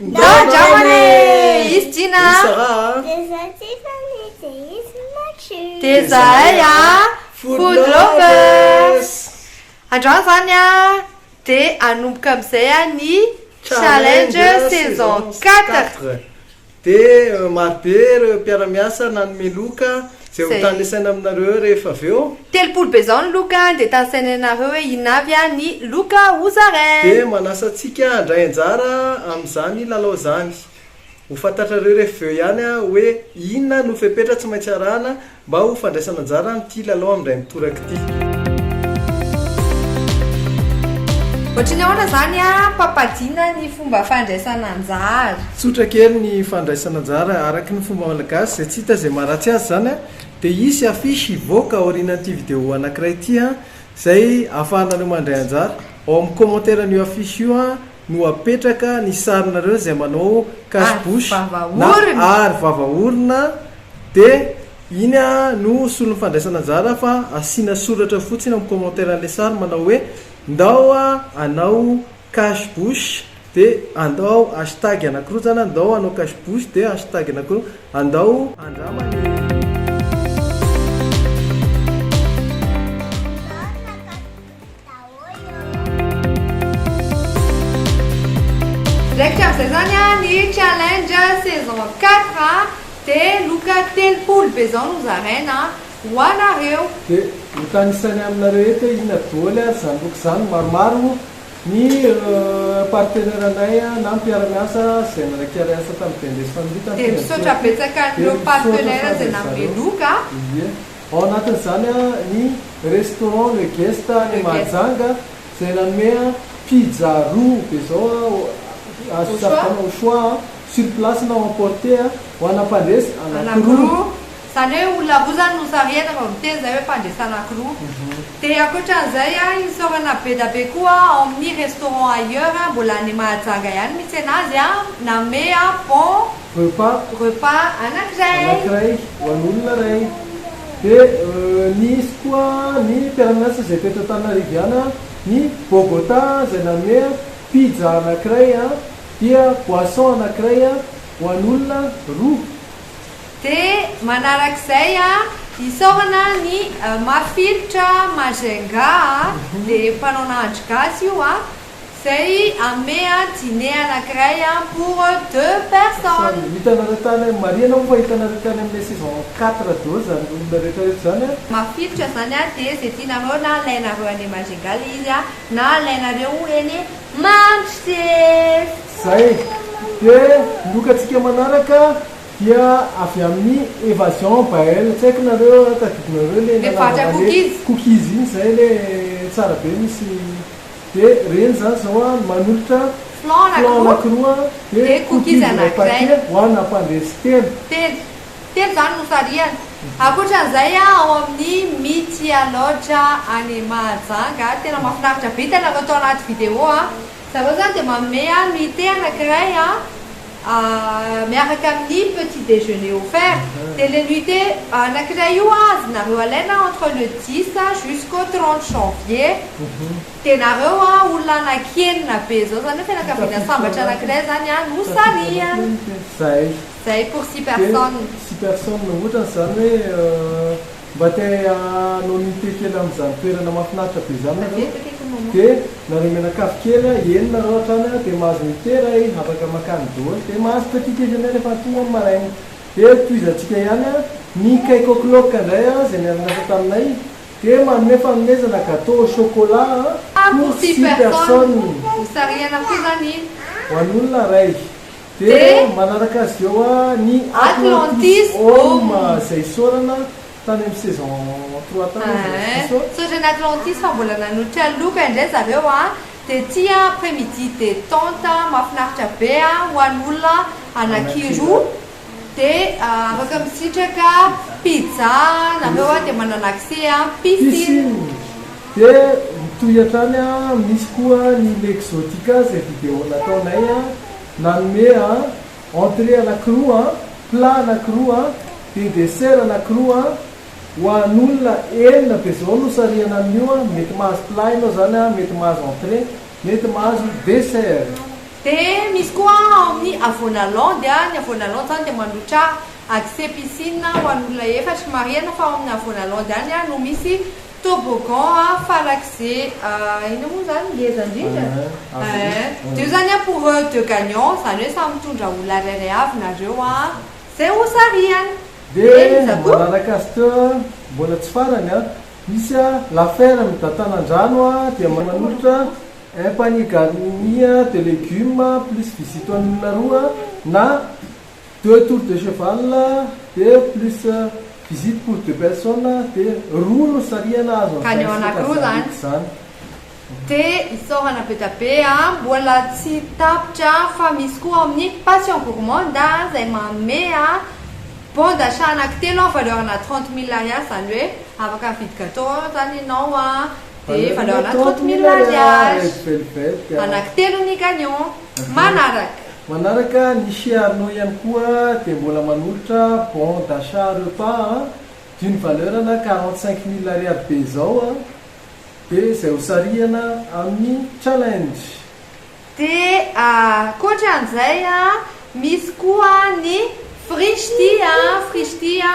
Ndao dramana e! Izy Jina a! Dia za Tiffany dia izy Maky! Dia zahay a! Food Lovers! Androany zany a dia hanomboka amizay a ny challenge saison quatre! Dia maro be ireo mpiara-miasa nanome loka. Zay ho tany saina aminareo eo rehefa avy eo. Telopolo be zao ny loka dia tany sainanareo hoe inona avy an ny loka ho zarain. Dia manasa antsika handray anjara amin zany lalao zany. Ho fantatrareo rehefa avy eo ihany hoe inona no fepetra tsy maintsy arahana mba ho fandraisana anjara amin ity lalao amin dray mitoraka ity. Ohatry ny ahoana izany ampapadiana ny fomba fandraisana anjara? Tsotra kely ny fandraisana anjara araka ny fomba malagasy izay tsy hita izay maharatsy azy izany dia hisy affiche hivoaka aorianan'ity vidéo anankiray ity izay ahafahanareo mandray anjara ao amin'ny commentaire an'io affiche io no apetraka ny sarinareo izay manao cache bouche na aro vava orona de iny no solon'ny fandraisana anjara fa asiana soratra fotsiny amin'ny commentaire an'ilay sary manao hoe ndao anao cache bouche de andao hashtag anakorojana ndao anao cache bouche de hashtag anakorojana andao andrama ny Raikitra amin'izay izany ny challenge saison quatre dia loka telopolo be izao no zaraina ho anareo. Dia notanisany aminareo eto hoe inona doly ary izany loka izany, maromaro ny partenaire-nay na mpiara-miasa izay nanaiky hiara-hiasa tamin'ny BNDES Family tamin'ny fiandohan'ny fety. Dia misaotra betsaka an'ireo partenaire izay nanome loka. Ao anatin'izany ny Restaurant Le Guest any Mahajanga izay nanome pizza roa dia izao azo safidianana au choix sur place na emporter ho ana mpandresy anankiroa. Izany hoe olona roa izany no sarihana vao miteny izay hoe fandresana anankiroa. Dia ankoatra an'izay isaorana be da be koa ao amin'ny Restaurant Ailleurs mbola any Mahajanga ihany misy anazy nanome bon. repas. Repas anankiray. Anankiray ho an'olona iray. Dia nisy koa ny mpiara-miasa izay eto Antananariviana, ny Bogota izay nanome pizza anankiray, dia boisson anankiray ho an'olona roa. Dia manarak'izay isaorana ny mafilotra Majunga dia mpanao nahandro gasy io. Zay ame a dîner anakiray a pour deux personnes. Samy hitanareo tany a, marihana hono fa hitanareo tany amle saison quatre daholo zany olona rehetra rehetra zany a. Mafilotra zany a de ze tianareo na alainareo any Majunga le izy a na alainareo eny Manchester. Zay. De lokatsika manaraka dia avy amin'ny Evasion Bael, tsy haiko nareo a tadidinareo le nanaovana le cookies iny zay le tsara be misy. De reny zany zao an manolotra Flan anankiroa de cookies iray paquet ho an ampandresy telo. Telo. Telo zany no sarihana. Ankoatran'izay an ao amin'ny Mitsia Lodge any Mahajanga an, tena mahafinaritra be, tena natao anaty vidéo an, zareo zany dia manome an nuitée anankiray an, miaraka amin'ny petit déjeuner offert dia le nuite anakiray io avy nareo alaina entre le dix jusqu'au trente janvier dia nareo a olona anaky enina be zao zany hoe fianakaviana sambatra anakiray zany a no sarihan zay zay pour six personnes six personnes ohatrany zany hoe Mba te anonymité kely amin'izany toerana mahafinaritra be izany nareo de nareo mianakavy kely a, eny nareo hatrany a, de mahazo mitera ey, afaka makany doly, de mahazo petit déjeuner rehefa tonga ny maraina. De tohizantsika ihany a, ny cake au clock ndray a, zay miara-miasa taminay, de manome fanomezana gateau au chocolat a, pour six personnes, ho an'olona ray. Dia manaraka azy eo ny Atlantis Home izay isaorana tany amin'ny saison trois tany izy raha tsy diso. Misaotra an'i Atlantis fa mbola nanotrika loka indray zareo a! Dia ty a, après midi detente mahafinaritra be a, ho an'olona anankiroa. Dia afaka misitraka pizza nareo a, dia manana accès a piscine. Dia mitohy hatrany a, misy koa ny Mexotica izay video nataonay a. Nanome an, entrée anakiroa an, plat anakiroa an, dia dessert anakiroa an, ho an'olona enina dia izao no sarihana amin'io an, mety mahazo plat ianao izany an, mety mahazo entrée, mety mahazo dessert. Dia misy koa an ao amin'ny Avonalon dia ny Avonalon izany dia mandrotra accès piscine ho an'olona efatra. Marihana fa ao amin'ny Avonalon ihany an no misy Toboggan a farak'ze inona moa zany ngeza ndrindra eh de io zany a pour eux deux gagnants zany hoe samy mitondra olona rairay avy nareo a zay hosarihana de iza koa Manana Castor mbola tsy farany a misy a la ferme d'Antanandrano a dia manolotra un panier garni de legumes plus visite ho an'ny olona roa na Deux tours de cheval de plus visite pour deux personnes dia roa no sarihana azo Ka ny ao antsika anakiroa zany zany. izany. Dia isaorana be dia be a! Mbola tsy tapitra fa misy koa ao amin'ny Passion Gourmande a, izay manome a bon d'achat anakitelo a valeur-na trente mille ariary, izany hoe afaka mividy gateau ao izany ianao a, dia valeur-na trente mille ariary. Anakitelo ny gagnant. manaraka. Manaraka ny chez Arnaud ihany koa dia mbola manolotra bon d'achat repas a, d'une valeur ana quarante cinq mille ariary be izao a, dia izay ho sarihana amin'ny challenge. Dia ankoatran'izay a, misy koa ny frishti a, frishti a.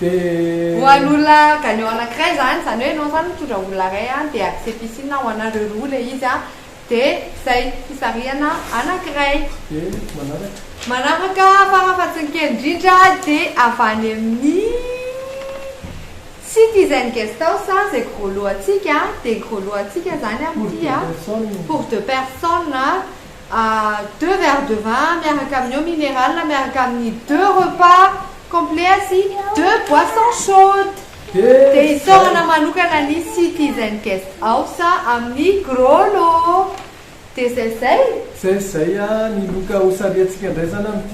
Dia. Ho an'olona gagnant anankiray izany, izany hoe ianao izany mitondra olona iray an, dia adisepicine ho anareo roa ilay izy an, dia izay fisarihana anankiray. Dia manaraka. Manaraka fara fa tsy ny kely indrindra dia avy any amin'ny Citizen Guest House izay gros lot antsika, dia gros lot antsika izany amin'ity an, pour deux personnes, deux verres de vin miaraka amin'ny eau minerale miaraka amin'ny deux repas complets sy deux boissons chaudes dia isaorana manokana ny Citizen Guest House amin'ny Grollo dia izay izay. Izay izay ny loka ho sariantsika indray izany amin'ity.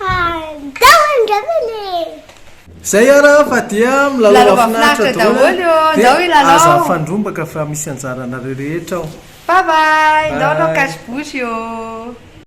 Andao andramana e! Zay ara fa dia milalao mafinaritra daholo ô, ndao hilalao. Aza mifandrombaka fa misy anjaranareo rehetra ao. Bye bye, ndao hanao cache bouche ô.